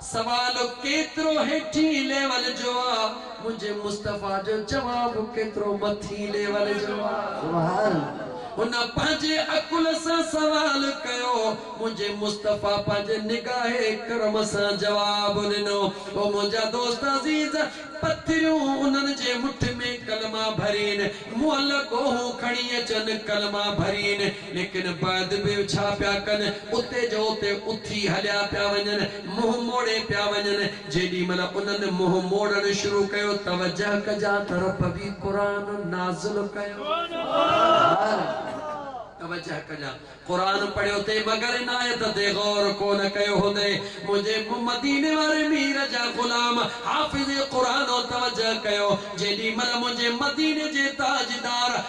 سوال ڪيترو هيٺين ليول جو آ منهنجي مصطفيٰ جو جواب ڪيترو مٿين ليول جو آ هن پنهنجي عقل سان سوال ڪيو منهنجي مصطفيٰ پنهنجي نگاهه ڪرم سان جواب ڏنو او منهنجا دوست عزيز پٿريون انهن جي مٺ ۾ ڪلما ڀرين معلقو هو کڻي اچن ڪلما ڀرين ليڪن بعد به ڇا پيا ڪن، اتي جو اتي اٿي هليا پيا وڃن، منهن موڙي پيا وڃن، جيڏي مهل انهن منهن موڙڻ شروع ڪيو، توجه ڪجا ته رب به قرآن نازل ڪيو، توجه ڪجا قرآن پڙهيو تي مگر عنايت تي غور ڪونه ڪيو هوندئي، منهنجي مديني واري مير جا غلام حافظ قرآن توجه ڪيو، جيڏي مهل منهنجي مديني جي تاجدار.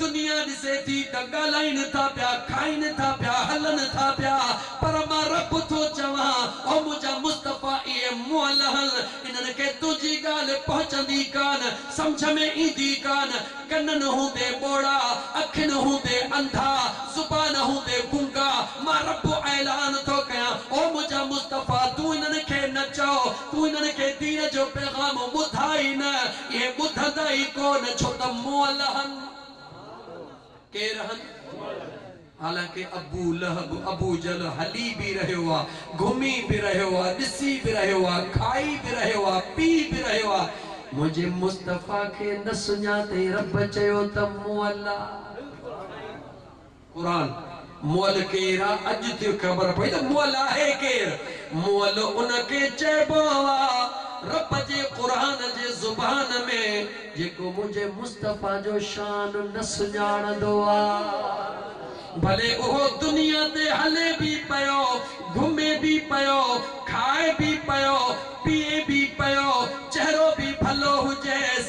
دنيا ڏسي ٿي ته ڳالهائين ٿا پيا، کائين ٿا پيا، هلن ٿا پيا، پر مان رب ٿو چوان، او منهنجا مصطفيٰ اهي مولهن، انهن کي تنهنجي ڳالهه پهچندي ڪان، سمجهه ۾ ايندي ڪان، ڪنن هوندي ٻوڙا، اکين هوندي انڌا، زبان هوندي گونگا، مان رب اعلان ٿو ڪيان، او منهنجا مصطفيٰ تون انهن کي نه چئو، تون انهن کي دين جو پيغام ٻڌاء ئي نه، ڪي ٻڌندا ئي ڪونه ڇو ته مئل هن. ڪير هن؟ حالانڪ ابو لهب، ابو جهل، هلي به رهيو آ، گهمي به رهيو آ، ڏسي به رهيو آ، کائي به رهيو آ، پي به رهيو آ، منهنجي مصطفيٰ کي نه سڃاتئي رب چيو ته مئل آ. قرآن، مئل ڪير آ؟ اڄ ٿيو خبر پئي ته مئل آهي ڪير؟ مئل ان کي چئبو آ، رب جي قرآن جي زبان ۾. جيڪو منهنجي مصطفيٰ جو شان نه سڃاڻندو آ. ڀلي اهو دنيا تي هلي به پيو، گهمي به پيو، کائي به پيو، پيئي به پيو، چهرو به ڀلو هجيس،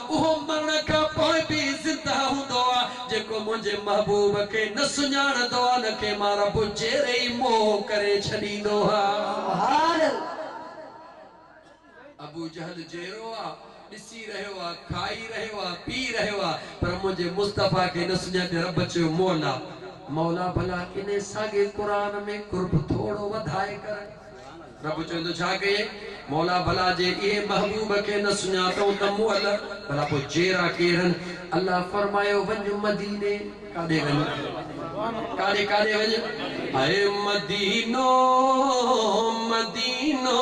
اهو مرڻ کان پوء به زنده هوندو آ، جيڪو منهنجي محبوب کي نه سڃاڻندو آ، ان کي مان رب جيري ئي موهه ڪري ڇڏيندو آهيان. ابوجهل جيرو آ، ڏسي رهيو آ، کائي رهيو آ، پي رهيو آ، پر منهنجي مصطفيٰ کي نه سڃاتي، رب چيو، مولا! مولا! ڀلا انهي ساڳي قرآن ۾ قرب ٿورو وڌائي ڪر. رب چوندو ڇا ڪيئي؟ مولا ڀلا جي اهي محبوب کي نه سڃاتئون ته مئل ڀلا پوء جيئرا ڪيرن؟ الله فرمايو وڃ مديني ڪاڏي وڃ ڪاڏي ڪاڏي وڃ اي مدينو مدينو.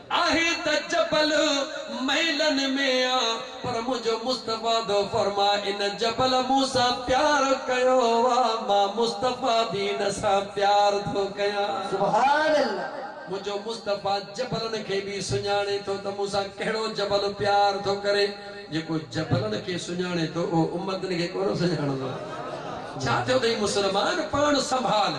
آهي ته جبل مئلن ۾ آ پر منهنجو مصطفيٰ ٿو فرماء ان جبل مون سان پيار ڪيو آ مان مصطفيٰ به ان سان پيار ٿو ڪيان. سبحان الله. منهنجو مصطفيٰ جبلن کي به سڃاڻي ٿو ته مون سان ڪهڙو جبل پيار ٿو ڪري. جيڪو جبلن کي سڃاڻي ٿو اهو امتن کي ڪونه سڃاڻندو. ڇا ٿيو اٿئي مسلمان پاڻ سنڀال.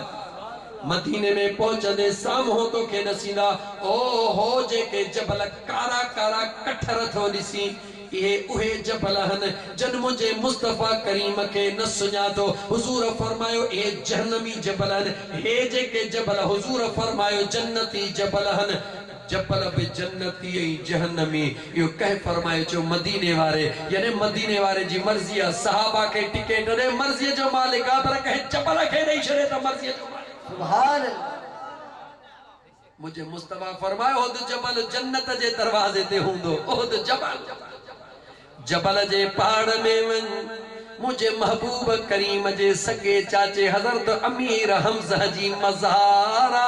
مديني ۾ پهچندين سامهون توکي ڏسيندا. او هو جيڪي جبل ڪارا ڪارا ڪٺر ٿو ڏسين، اهي اهي جبل هن جن منهنجي مصطفيٰ ڪريم کي نه سڃاتو. حضور فرمايو اهي جهنمي جبل هن. هي جيڪي جبل حضور فرمايو جنتي جبل هن. جبل به جنتي ۽ جهنمي. اهو ڪنهن فرمائي چيو مديني واري يعني مديني واري جي مرضي آ صحابه کي ٽڪيٽ ڏي مرضي جو مالڪ آ پر ڪنهن جبل کي ڏئي ڇڏي ته مرضي جو مالڪ آ سبحان الله منهنجي مصطفي فرمايو احد جبل جنت جي دروازي تي هوندو احد جبل جبل جي پاڙ ۾ وڃ، منهنجي محبوب ڪريم جي سڳي چاچي حضرت امير حمزه جي مزار آ.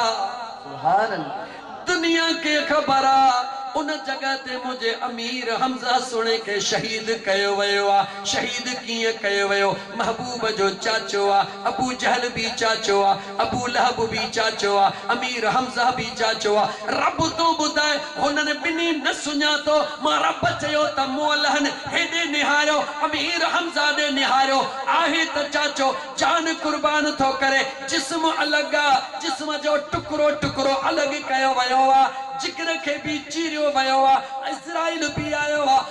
سبحان الله. دنيا کي خبر آ، ان جڳهه تي منهنجي امير حمزه سهڻي کي شهيد ڪيو ويو آ. شهيد ڪيئن ڪيو ويو؟ محبوب جو چاچو آ، ابوجهل به چاچو آ. ابو لهب به چاچو آ، امير حمزه به چاچو آ، رب تون ٻڌاء هنن ٻنهي نه سڃاتو، مان رب چيو ته مون الهن هيڏي نهاريو، امير حمزه ڏي نهاريو، آهي ته چاچو، جان قربان ٿو ڪري، جسم الڳ آ، جسم جو ٽڪرو ٽڪرو الڳ ڪيو ويو آ، جگر کي به چيريو ويو آ، عزرائيل به آيو آ،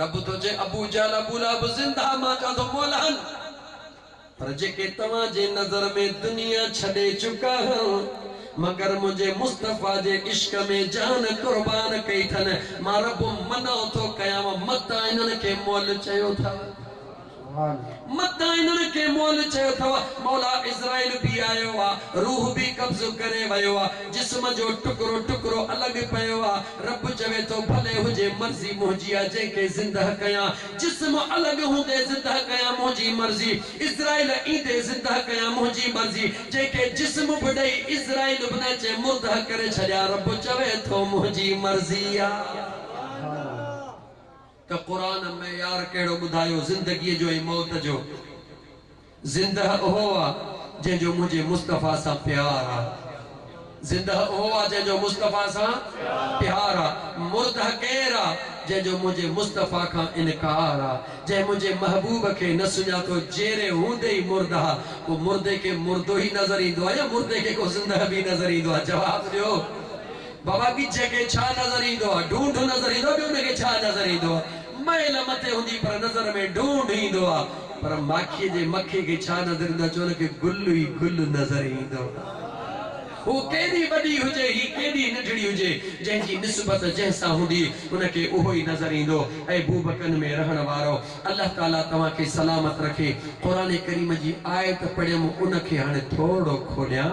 رب تنهنجي ابو جهل ابو لهب زنده مان ڪاڌو ڪو لهن پر جيڪي توهان جي نظر ۾ دنيا ڇڏي چڪا هن مگر منهنجي مصطفيٰ جي عشق ۾ جان قربان ڪئي ٿن مان رب منع ٿو ڪيانو مت انهن کي مئل چيو ٿا. متان انهن کي مئل چيو اٿو، مولا عزرائيل به آيو آ، روح به قبضو ڪري ويو آ، جسم جو ٽڪرو ٽڪرو الڳ پيو آ، رب چوي ٿو ڀلي هجي مرضي منهنجي آ جنهن کي زندهه ڪيان، جسم الڳ هوندي زندهه ڪيان منهنجي مرضي، عزرائيل ايندي زندهه ڪيان منهنجي مرضي، جنهن کي جسم به ڏئي عزرائيل به نه اچي مردهه ڪري ڇڏيان رب چوي ٿو منهنجي مرضي آ. ته قرآن معيار ڪهڙو ٻڌايو زندگيء جو ۽ موت جو. زندهه اهو آ جنهن جو منهنجي مصطفيٰ سان پيار آ. زندهه اهو آ جنهن جو مصطفيٰ سان پيار آ. مردهه ڪير آ جنهن جو منهنجي مصطفيٰ کان انڪار آ. جنهن منهنجي محبوب کي نه سڃاتو جيئري هوندي ئي مردهه آ. پوء مردي کي مردو ئي نظر ايندو آ يا مردي کي ڪو زندهه به نظر ايندو آ؟ جواب ڏيو. بابا ڳجهه کي ڇا نظر ايندو آ؟ ڍونڍ نظر ايندو آ ٻيو ان کي ڇا نظر ايندو آ؟ مئل مٿي هوندي پر نظر ۾ ڍونڍ ايندو آ پر ماکيء جي مکي کي ڇا نظر ايندو آ جو ان کي گل ئي گل نظر ايندو آ هوء ڪيڏي وڏي هجي هي ڪيڏي ننڍڙي هجي جنهن جي نسبت جنهن سان هوندي ان کي اهو ئي نظر ايندو اي بوبڪن ۾ رهڻ وارؤ الله تعاليٰ توهان کي سلامت رکي قرآن ڪريم جي آيت پڙهيم ان کي هاڻي ٿورڙو کوليان.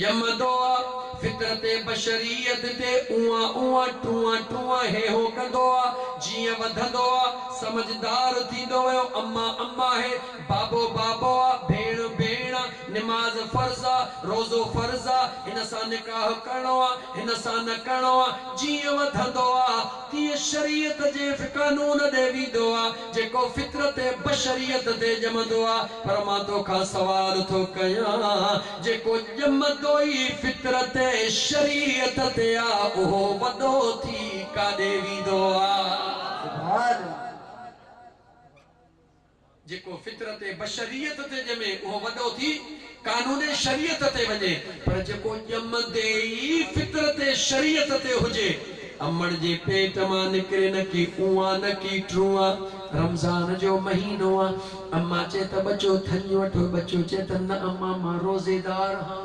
ڄمندو آ، فطرت بشريت تي اونء اونء ٽونء ٽونء هيهو ڪندو آ، جيئن وڌندو آ، سمجهدار ٿيندو ويو، اما اما آهي، بابو بابو آ، ڀيڻ ڀيڻ آ، نماز فرض آ، روزو فرض آ، هن سان نڪاح ڪرڻو آ، هن سان نه ڪرڻو آ، جيئن وڌندو آ، تيئن شريعت جي قانون ڏي ويندو آ، جيڪو فطرت بشريت تي ڄمندو آ، پر مان تو کان سوال ٿو ڪيان، جيڪو ڄمندو ئي فطرت شريعت تي آ، اهو وڏو ٿي ڪاڏي ويندو آ؟ سبحان الله. جيڪو فطرت بشريت تي ڄمي، اهو وڏو ٿي. قانون شريعت تي وڃي پر جيڪو ڄمندي ئي فطرت شريعت تي هجي امڙ جي پيٽ مان نڪري نه ڪي اونئان نه ڪي ٽرونئان رمضان جو مهينو آ امان چي ته ٻچو ٿڃي وٺو ٻچو چي ته نه امان مان روزيدار هان.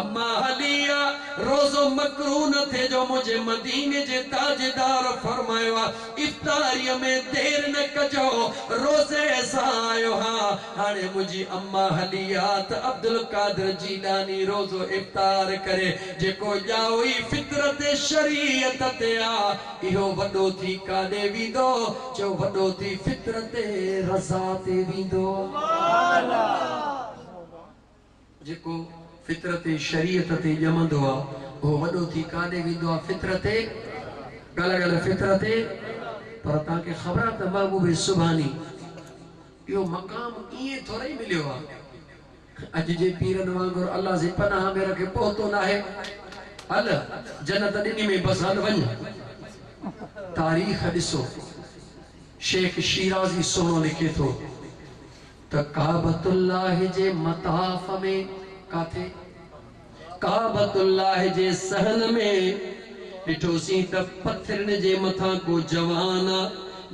اما عليه روزو مڪروه نه ٿئي جو منهنجي مديني جي تاجدار فرمايو آ افطاريء ۾ دير نه ڪجو روزي سان آيو ها هاڻي منهنجي اما عليه ته عبدالقادر جيلاني روزو افطار ڪري جيڪو ڄائو ئي فطرت شريعت تي آ اهو وڏو ٿي ڪاڏي ويندو جو وڏو ٿي فطرت رضا تي ويندو. جيڪو فطرت شريعت تي ڄمندو آ اهو وڏو ٿي ڪاڏي ويندو آ فطرت ڳالهه ڳالهه فطرت پر توهان کي خبر آ ته محبوب سبحاني اهو مقام ائين ٿورئي مليو آ اڄ جي پيرن وانگر الله سي پناهه ۾ رکي پهتو ناهي هل جنت ڏني مين بس هل وڃ تاريخ ڏسو شيخ شيرازي سهڻو لکي ٿو. ته ڪعبة الله جي مطاف ۾ ڪاٿي؟ ڪعبة الله جي صحن ۾، ڏٺوسين ته پٿرين جي مٿان ڪو جوان آ،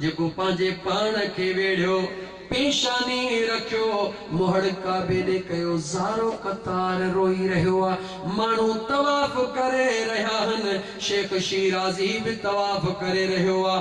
جيڪو پنهنجي پاڻ کي ويڙهيو، پيشاني رکيو، مهڙ ڪعبي ڏي ڪيو، زارو قطار روئي رهيو آ، ماڻهو طواف ڪري رهيا هن، شيخ شيرازي به طواف ڪري رهيو آ.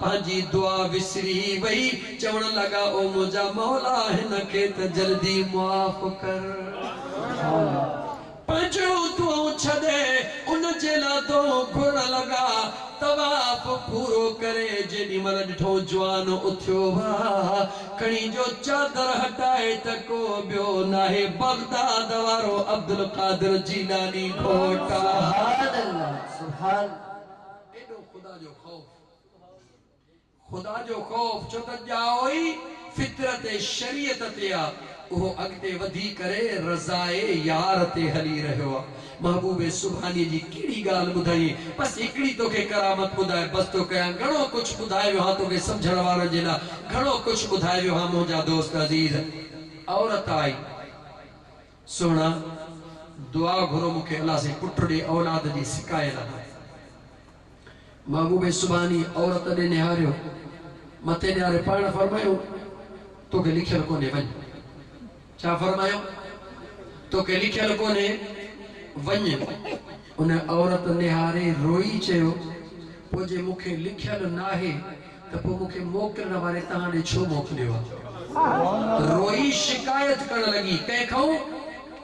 پنهنجي دعا وسري وئي، چوڻ لڳا او منهنجا مولا هن کي ته جلدي معاف ڪر. پنهنجيون دعائون ڇڏي ان جي لاء دعائون گهرڻ لڳا. طواف پورو ڪري جيڏي مهل ڏٺائون جوان اٿيو وئا کڻي جو چادر هٽائي ته ڪو ٻيو ناهي بغداد وارو عبدالقادر جيلاني گهوٽ آ. سبحان الله سبحان الله ايڏو خدا جو خوف. خدا جو خوف ڇو ته ڄائو ئي فطرت شريعت تي آ اهو اڳتي وڌي ڪري رضاء يار تي هلي رهيو آ محبوب سبحاني جي ڪهڙي ڳالهه ٻڌائين بس هڪڙي توکي ڪرامت ٻڌائي بس ٿو ڪيان گهڻو ڪجهه ٻڌائي ويو هان توکي سمجهڻ وارن جي لا گهڻو ڪجهه ٻڌائي ويو هان منهنجا دوست عزيز عورت آئي سهڻا، دعا گهرو مون کي الله سائين پٽ ڏي اولاد جي سڪايل آهيان. محبوب سبحاني عورت ڏي نهاريو، مٿي نهاري پاڻ فرمايو، توکي لکيل ڪونهي وڃ. ڇا فرمايو؟ توکي لکيل ڪونهي وڃ. ان عورت نهاري روئي چيو، پوء جي مون کي لکيل ناهي ته پوء مون کي موڪلڻ واري توهان ڏي ڇو موڪليو آ؟ روئي شڪايت ڪرڻ لڳي، ڪنهن کانئون؟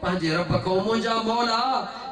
پنهنجي رب کانئون، منهنجا مولا!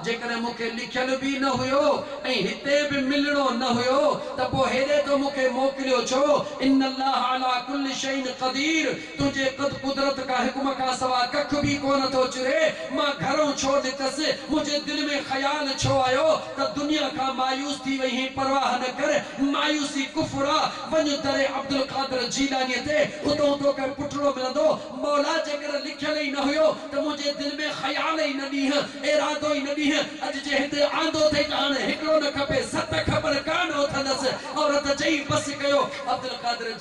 جيڪڏهن مون کي لکيل به نه هيو ۽ هتي به ملڻو نه هيو ته پوء هيڏي تو مون کي موڪليو ڇو؟ ان الله علي ڪل شيء قدير تنهنجي قد قدرت کان حڪم کان سوا ڪک به ڪونه ٿو چري. مان گهرئون ڇو نڪتس؟ منهنجي دل ۾ خيال ڇو آيو ته دنيا کان مايوس ٿي وئي هين؟ پرواهه نه ڪر، مايوسي ڪفر آ. وڃ در عبدالقادر جيلانيء تي، اتئون توکي پٽڙو ملندو. مولا جيڪڏهن لکيل ئي نه هيو ته منهنجي دل ۾ خيال ئي نه ڏينهن، ارادو ئي نه ڏينهن. اڄ جي هتي آندو اٿئي ته هاڻي هڪڙو نه کپي، ست کپن ڪا نه اٿندس. عورت چئي، بس ڪيو! عبدالقادر.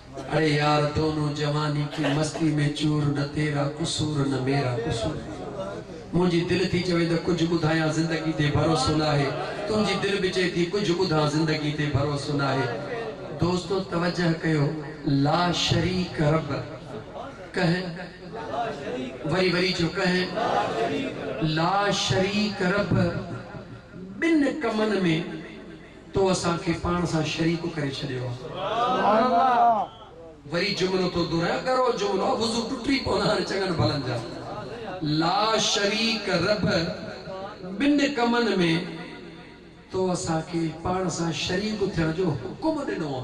اي يار دونو جواني ڪي مستي مين چور نه تيرا قصور نه ميرا قصور منهنجي دل ٿي چوي ته ڪجهه ٻڌايان زندگي تي ڀروسو ناهي تنهنجي دل به چئي ٿي ڪجهه ٻڌان زندگي تي ڀروسو ناهي دوستو توجه ڪيو لا شريڪ رب ڪنهن وري وري چو ڪنهن لا شريڪ رب ٻن ڪمن ۾ تو اسان کي پاڻ سان شريڪ ڪري ڇڏيو آ. سبحان الله وري جملو تو دوران ڳرو جملو آ وضو ٽٽي پون هاڻي چڱن ڀلن جا لا شريڪ رب ٻن ڪمن ۾ تو اسان کي پاڻ سان شريڪ ٿيڻ جو حڪم ڏنو آ.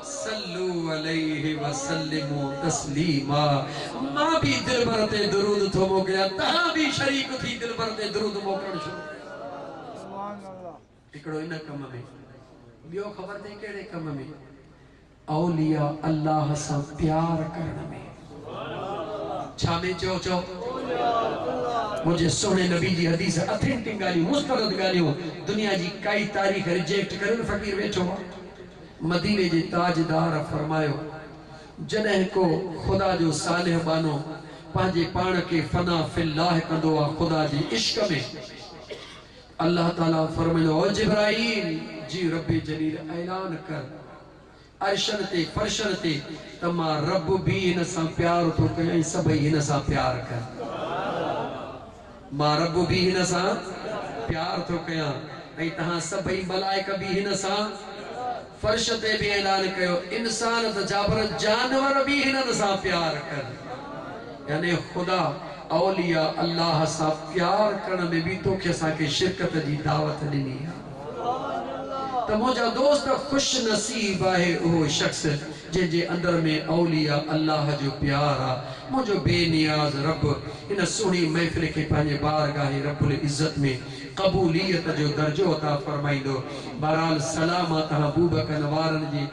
صلو عليه وسلمو تسليما مان به دلبر تي درود ٿو موڪليان توهان به شريڪ ٿي دلبر تي درود موڪلڻ شروع ڪريو هڪڙو ان ڪم ۾ ٻيو خبر تي ڪهڙي ڪم ۾ اولياء الله سان پيار ڪرڻ ۾ ڇا ۾ چئو چئو منهنجي سهڻي نبي جي حديث اٿينٽڪ ڳالهيون مستند ڳالهيون دنيا جي ڪائي تاريخ ريجيڪٽ ڪريو نه فقير ويٺو آ مديني جي تاجدار فرمايو، جڏهن ڪو خدا جو صالح ٻانهو پنهنجي پاڻ کي فنا في الله ڪندو آ خدا جي عشق ۾ الله تعاليٰ فرمائيندو آ او جبرائيل جي رب جليل اعلان ڪر عرشن تي فرشن تي ته مان رب به هن سان پيار ٿو ڪيان ۽ سڀئي هن سان پيار ڪن. مان رب به هن سان پيار ٿو ڪيان ۽ توهان سڀئي ملائڪ به هن سان فرش تي به اعلان ڪيو انسان ته ڇا پر جانور به هنن سان پيار ڪن يعني خدا اولياء الله سان پيار ڪرڻ ۾ به توکي اسان کي شرڪت جي دعوت ڏني آهي ته منهنجا دوست خوش نصيب آهي اهو شخص جنهن جي اندر ۾ اولياء الله جو پيار آ، منهنجو بي نياز رب هن سهڻي محفل کي پنهنجي بارگاهه رب العزت ۾ قبوليت جو درجو عطا فرمائيندو. بهرحال سلام آ تهان بوبڪن وارن جي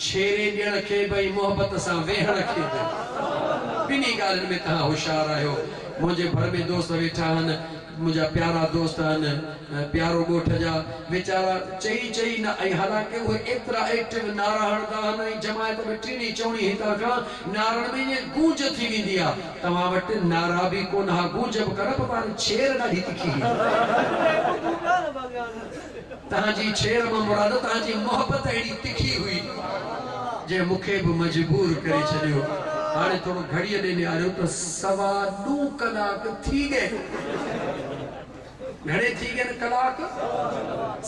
ڇيري ڏيڻ کي به ۽ محبت سان ويهڻ کي به. ٻنهي ڳالهين ۾ تهان هوشيار آهيو. منهنجي ڀر ۾ دوست ويٺا آهن. منهنجا پيارا دوست آهن ۽ پيارو ڳوٺ جا ويچارا چئي چئي نه ۽ حالانڪه اهي ايترا ايڪٽو نعرا هڻندا آهن ۽ جماعت به ٽيڻي چوڻي هتان کان نعرن ۾ ائين گونج ٿي ويندي آ توهان وٽ نعرا به ڪونه ها گونج به ڪونه پر پاڻ ڇير ڏاڍي تکي هئي. تنهن جي ڇيڙ مان مراد تنهن جي محبت اهڙي تکي هئي جنهن مون کي به مجبور ڪري ڇڏيو. هاڻي ٿورو گهڙيء ڏي نهاريو ته سوا نو ڪلاڪ ٿي ڳئي آهن. گهڻي ٿي ڳئي آهن ڪلاڪ؟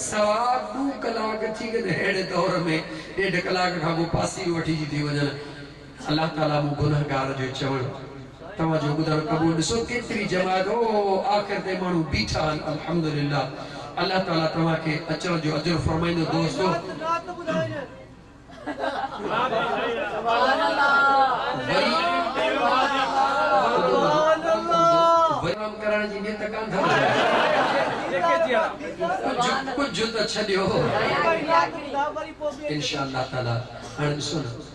سوا نو ڪلاڪ ٿي ڳئي آهن. اهڙي دور ۾ ڏيڍ ڪلاڪ کان پوء پاسي وٺي جي ٿي وڃن. الله تعاليٰ مون گنهگار جو چوڻ توهان جو ٻڌڻ قبول ڏسو ڪيتري جماعت او آخر تائين ماڻهو بيٺا آهن الحمدلله الله تعاليٰ توهان کي اچڻ جو اجر فرمائيندو دوستو ڪجهه ته ڇڏيو انشاء الله تعاليٰ هاڻي ڏسو نه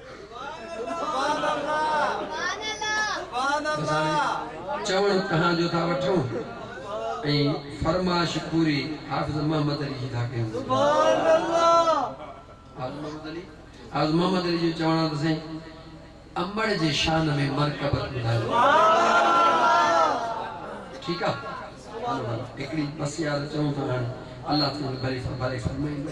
چوڻ ڪهان جو ٿا وٺون ۽ فرمائش پوري حافظ محمد علي جي ٿا ڪيون. حافظ محمد علي جو چوڻ آ ته سائين امڙ جي شان ۾ مرڪبت ٻڌايو. ٺيڪ آ هڪڙي بس يار چئون ٿا هاڻي الله تنهنجي ڀلي ڀلي فرمائيندو.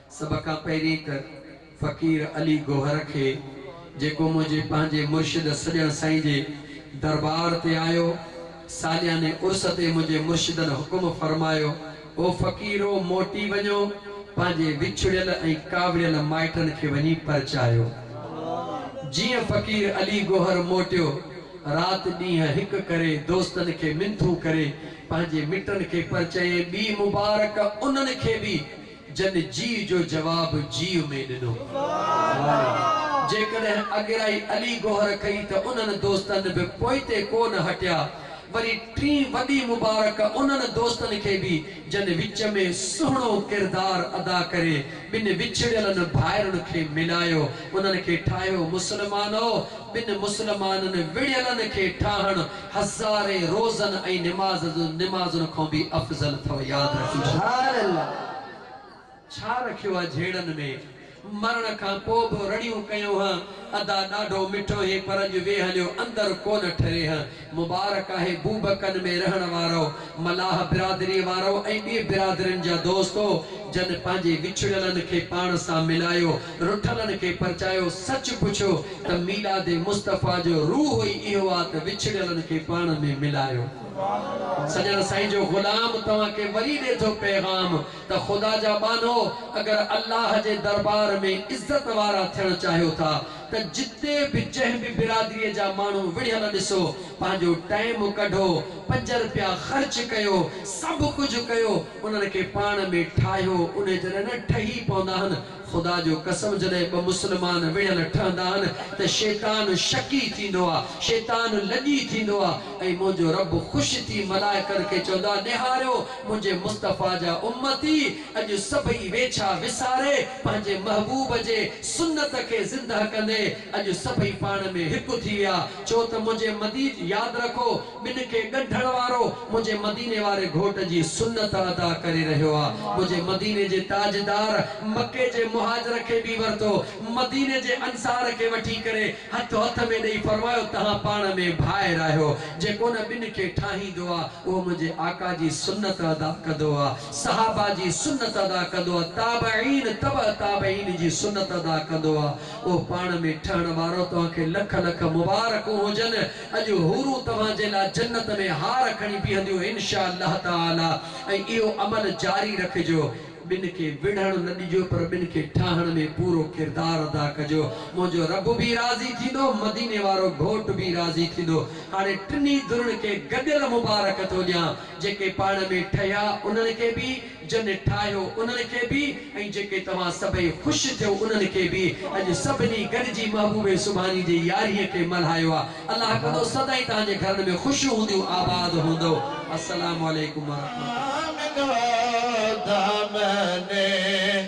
سڀ کان پهرين ته فقير علي گوهر کي جيڪو منهنجي پنهنجي مرشد سڄڻ سائين جي دربار تي آيو، سالياني عرس تي منهنجي مرشدن حڪم فرمايو، او فقيرو موٽي وڃو پنهنجي وڇڙيل ۽ ڪاوڙيل مائٽن کي وڃي پرچايو. جيئن فقير علي گوهر موٽيو، رات ڏينهن هڪ ڪري دوستن کي منٿون ڪري پنهنجي مٽن کي پرچيائين، ٻي مبارڪ انهن کي به جن جيء جو جواب جيء ۾ ڏنو آهي. جيڪڏهن اڳرائي علي گوهر ڪئي ته انهن دوستن به پوئتي ڪو نه هٽيا. وري ٽين وڏي مبارڪ انهن دوستن کي به جن وچ ۾ سهڻو ڪردار ادا ڪري ٻن وڇڙيلن ڀائرن کي ملايو. انهن کي ٺاهيو مسلمانو! ٻن مسلمانن وڙهيلن کي ٺاهڻ هزارين روزن ۽ نماز نمازن کان به افضل اٿو ياد رکي ڇڏيو. ڇا رکيو آ جهيڙن ۾. مرڻ کان پوء به رڙيون ڪيون هه. ادا ڏاڍو مٺو هي پر اڄ ويه هليو اندر ڪونه ٺري هه. مبارڪ آهي بوبڪن ۾ رهڻ وارؤ ملاح برادريء وارؤ ۽ ٻي برادرين جا دوستو جن پنهنجي وڇڙيلن کي پاڻ سان ملايو رٺلن کي پرچايو، سچ پڇيو ته ميلاد مصطفيٰ جو روح ئي اهو آ ته وڇڙيلن کي پاڻ ۾ ملايو. سڄڻ سائين جو غلام توهان کي وري ڏي ٿو پيغام ته خدا جا ٻانهو اگر الله جي دربار ۾ عزت وارا ٿيڻ چاهيو ٿا ته جتي به جنهن به برادري جا ماڻهو وڙهيل ڏسو پنهنجو ٽائيم ڪڍو پنج رپيا خرچ ڪيو سڀ ڪجهه ڪيو انهن کي پاڻ ۾ ٺاهيو انهي جڏهن نه ٺهي پوندا آهن خدا جو قسم جڏهن ٻه مسلمان وڙهيل ٺهندا آهن ته شيطان شڪي ٿيندو آ شيطان لڄي ٿيندو آ ۽ منهنجو رب خوش ٿي ملائڪن کي چوندو آ نهاريو منهنجي مصطفيٰ جا امتي اڄ سڀئي ويڇا وساري پنهنجي محبوب جي سنت کي زنده ڪندي اڄ سڀئي پاڻ ۾ هڪ ٿي ويا ڇو ته منهنجي مديد ياد رکو ٻن کي ڳنڍڻ وارو منهنجي مديني واري گهوٽ جي سنت ادا ڪري رهيو آ منهنجي مديني جي تاجدار مڪي جي مهاجر کي به ورتو مديني جي انصار کي وٺي ڪري هٿ هٿ ۾ ڏئي فرمايو تهان پاڻ ۾ ڀائر آهيو جيڪو ان ٻن کي ٺاهيندو آ اهو منهنجي آقا جي سنت ادا ڪندو آ صحابه جي سنت ادا ڪندو آ تابعين تبع تابعين جي سنت ادا ڪندو آ اهو پاڻ ۾ ٺهڻ وارو توهان کي لک لک مبارڪون هجن اڄ حورون توهان جي لاء جنت ۾ هار کڻي بيهنديون ان شاء الله تعالٰي ۽ اهو عمل جاري رکجو. ٻن کي وڙهڻ نه ڏجو پر ٻن کي ٺاهڻ ۾ پورو ڪردار ادا ڪجو. منهنجو رب به راضي ٿيندو، مديني وارو گهوٽ به راضي ٿيندو. هاڻي ٽنهي ڌرين کي گڏيل مبارڪ ٿو ڏيان، جيڪي پاڻ ۾ ٺهيا انهن کي به جن ٺاهيو انهن کي به ۽ جيڪي توهان سڀئي خوش ٿيو انهن کي به اڄ سڀني گڏجي محبوب سبحاني جي يارهينء کي ملهايو آ الله ڪندو سدائين توهان جي گهرن ۾ خوشيون هونديون آباد هوندؤ السلام عليڪم ورحمة الله.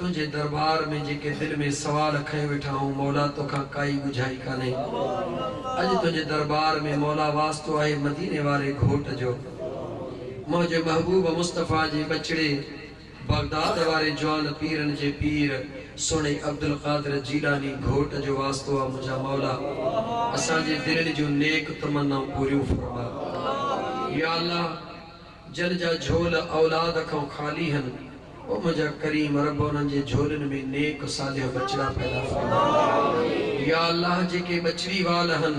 تنهنجي دربار ۾ جيڪي دل ۾ سوال کنيو ويٺا آهون مولا توکان ڪائي ڳجهائي ڪانهي اڄ تنهنجي دربار ۾ مولا واسطو آهي مديني واري گهوٽ جو منهنجي محبوب مصطفيٰ جي ٻچڙي بغداد واري جوان پيرن جي پير سهڻي عبدالقادر جيلاني گهوٽ جو واسطو آ منهنجا مولا اسان جي دلين جون نيڪ تمنائون پوريون فرما يا الله. جن جا جھول اولاد کان خالي ھن او منھنجا ڪريم رب انھن جي جھولين ۾ نيڪ صالح ٻچڙا پيدا فرما يا الله جيڪي ٻچڙي وال ھن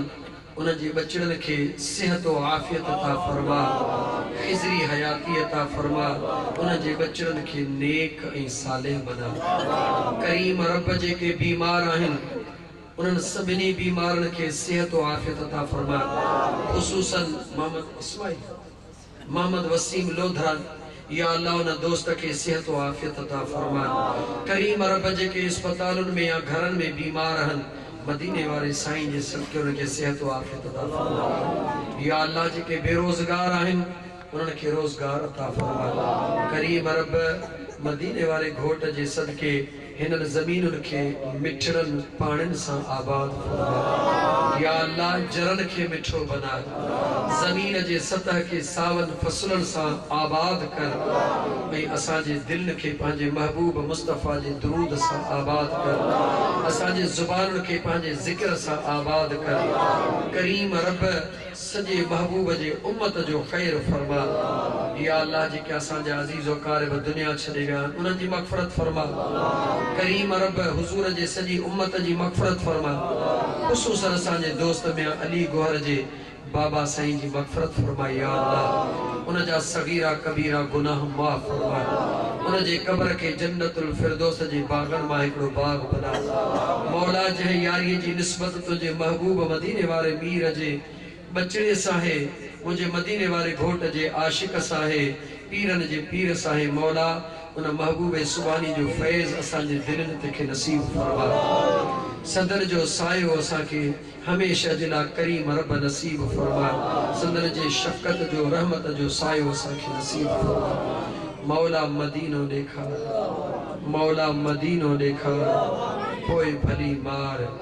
انھن جي ٻچڙن کي صحت و عافيت عطا فرما خضري حياتي عطا فرما انھن جي ٻچڙن کي نيڪ ۽ صالح بنا ڪريم رب جيڪي بيمار آھن انھن سڀني بيمارن کي صحت و عافيت عطا فرما خصوصن محمد اسماعيل. محمد وسيم لوڌرا يا الله ان دوست کي صحت و عافيت عطا فرماء ڪريم رب جيڪي اسپتالن ۾ يا گهرن ۾ بيمار اهن مديني واري سائين جي صدقي انهن کي صحت و عافيت عطا فرماء يا الله جيڪي بي روزگار آهن انهن کي روزگار عطا فرماء ڪريم رب مديني واري گهوٽ جي صدقي هنن زمينن کي مٺڙن پاڻين سان آباد فرما يا الله جرن کي مٺو بناء زمين جي سطح کي ساون فصلن سان آباد ڪر ۽ اسان جي دلن کي پنهنجي محبوب مصطفيٰ جي درود سان آباد ڪر اسان جي زبانن کي پنهنجي ذڪر سان آباد ڪر ڪريم رب سڄي محبوب جي امت جو خير فرماء يا الله جيڪي اسان جا عزيز واقارب دنيا ڇڏي ويا آهن انهن جي مغفرت فرماء ڪريم رب حضور جي سڄي امت جي مغفرت فرماء خصوصن اسان جي دوست ميان علي گوهر جي بابا سائين جي مغفرت فرماء يا الله ان جا صغيرا ڪبيرا گناهه معاف فرماء ان جي قبر کي جنت الفردوس جي باغن مان هڪڙو باغ بناء مولا جنهن ياري جي نسبت تنهنجي محبوب مديني واري مير جي ٻچڙي ساهي منهنجي مديني واري گهوٽ جي عاشق ساهي پيرن جي پير ساهي مولا ان محبوب سبحاني جو فيض اسان جي دلين تي کي نصيب فرما سندن جو سايو اسان کي هميشه جي لا ڪريم رب نصيب فرما سندن جي شفقت جو رحمت جو سايو اسان کي نصيب فرما مولا مدينو ڏيکار مولا مدينو ڏيکار پوء ڀلي مار.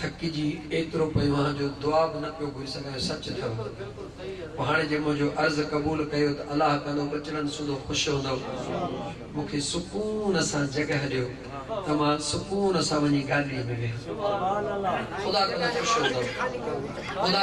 ٿڪجي ايترو پيو آهان جو دعا به نه پيو گهري سگهان سچ اٿو پوء هاڻي جي منهنجو عرض قبول ڪيو ته الله ڪندو ٻچڙن سوڌو خوش هوندو مون کي سڪون سان جڳهه ڏيو ته مان سڪون سان وڃي گاڏيء ۾ ويهان خدا ڪندو خوش هوندو خدا